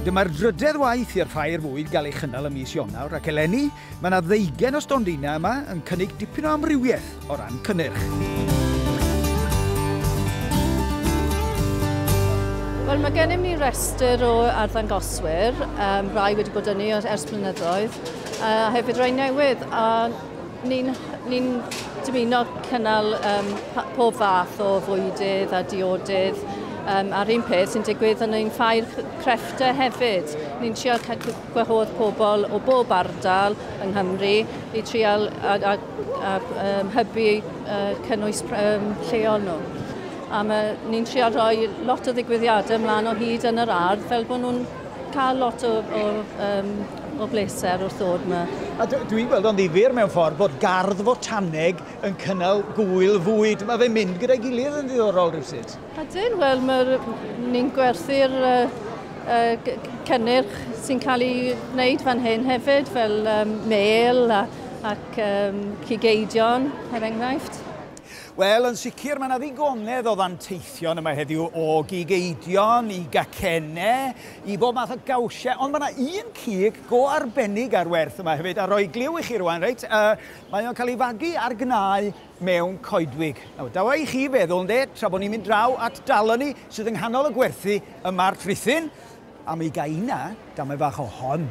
Dyma'r drydedd waith i'r Ffair Fwyd gael ei chynnal ym mis Ionawr ac eleni mae yna ddeugain o stondinau yma yn cynnig dipyn o amrywiaeth o ran cynnyrch. Wel, mae gennym ni restr o arddangoswyr, um, rai wedi bod yni ers blynyddoedd, a hefyd rai newydd. A Ni'n ni dymuno cynnal um, pob fath o fwydydd a diodydd um, a'r un peth sy'n digwydd yn ein ffair crefftau hefyd. Ni'n trial gwahodd pobl o bob ardal yng Nghymru i trial a, a, a um, hybu uh, cynnwys um, lleol nhw. A ni'n trial rhoi lot o ddigwyddiadau ymlaen o hyd yn yr ardd fel bod nhw'n cael lot o, o um, O bleser wrth ddod ma. A dwi'n gweld o'n ddifyr mewn ffordd bod gardd fotaneg yn cynnal gwyl fwyd. Mae fe'n mynd gyda'i gilydd yn ddiddorol rhywsut. Ydyn, wel mae ni'n gwerthu'r uh, uh, cynnyrch sy'n cael ei wneud fan hyn hefyd, fel um, mêl a, ac um, cigeidion, er enghraifft. Wel, yn sicr, mae yna ddigonedd o ddanteithion yma heddiw o gigeidion i gacenne, i bob math o gawsiau, ond mae yna un cig go arbennig ar werth yma hefyd, a rhoi gliw i chi rwan, reit, uh, mae o'n cael ei fagu ar gnau mewn coedwig. Nawr, dawa i chi feddwl, ynde, tra bod ni'n mynd draw at daloni sydd yng nghanol y gwerthu y March Rhithyn, am ei gaina, damau fach o hon.